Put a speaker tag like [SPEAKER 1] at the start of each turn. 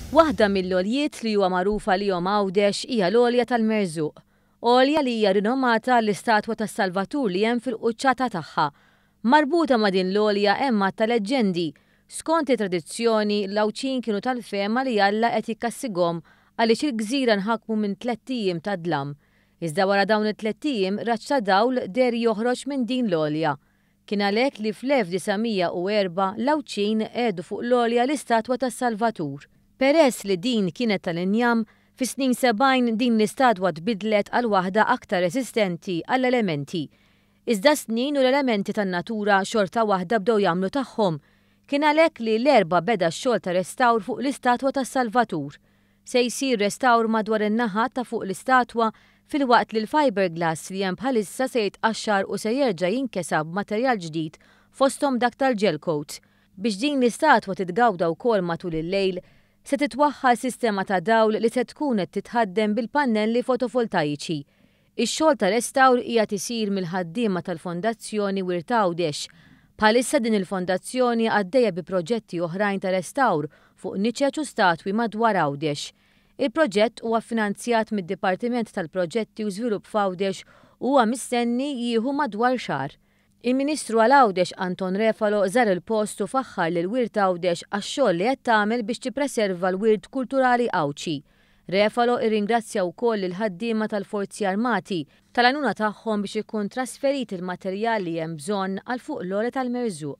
[SPEAKER 1] Waħda mill-għoljiet li huwa magħruf għalihom Għawdex hija l-għolja tal-Merżuq, għolja li hija rinomata għall-istatwa tas-Salvatur li hemm fil-quċċata tagħha. Marbuta ma' din l-għolja hemm għadd ta' leġġendi. Skont it-tradizzjoni, l-Għawdxin kienu tal-fehma li Alla qed jikkassigom għaliex il-gżira nħakmu minn tlett ijiem ta' dlam. Iżda wara dawn it-tlett ijiem raġġ ta' dawl deher joħroġ minn din l-għolja. Kien għalhekk li fl-1904 l-Għawdxin qegħdu fuq l-għolja l-istatwa tas-Salvatur. Peress li din kienet tal-injam, fis-snin sebgħin din l-istatwa tbiddlet għal waħda aktar resistenti għall-elementi. Iżda s-snin u l-elementi tan-natura xorta waħda bdew jagħmlu tagħhom. Kien għalhekk li l-Erbgħa beda x-xogħol ta' restawr fuq l-istatwa tas-Salvatur. Se jsir restawr madwar in-naħa ta' fuq l-istatwa filwaqt li l-fiberglass li hemm bħalissa se jitqaxxar u se jerġa' jinkesa b'materjal ġdid fosthom dak tal-gel coat. Biex din l-istatwa titgawda wkoll matul il-lejl, se titwaħħal sistema ta' dawl li se tkun qed titħaddem bil-pannelli fotovoltajiċi. Ix-xogħol ta' restawr qiegħed isir mill-ħaddiema tal-Fondazzjoni Wirt Għawdex. Bħalissa din il-Fondazzjoni għaddejja bi proġetti oħrajn ta' restawr fuq niċeċ u statwi madwar Għawdex. Il-proġett huwa ffinanzjat mid-Dipartiment tal-Proġetti u Żvilupp f'Għawdex u huwa mistenni jieħu madwar xahar. Il-Ministru għal Għawdex Anton Refalo żar il-post u faħħar lil Wirt Għawdex għax-xogħol li qed tagħmel biex tippreserva l-wirt kulturali Għawdxi. Refalo irringrazzja wkoll lill-ħaddiema tal-Forzi Armati tal-għajnuna tagħhom biex ikun trasferit il-materjal li hemm bżonn għal Fuq l-Għoli tal-Merżuq.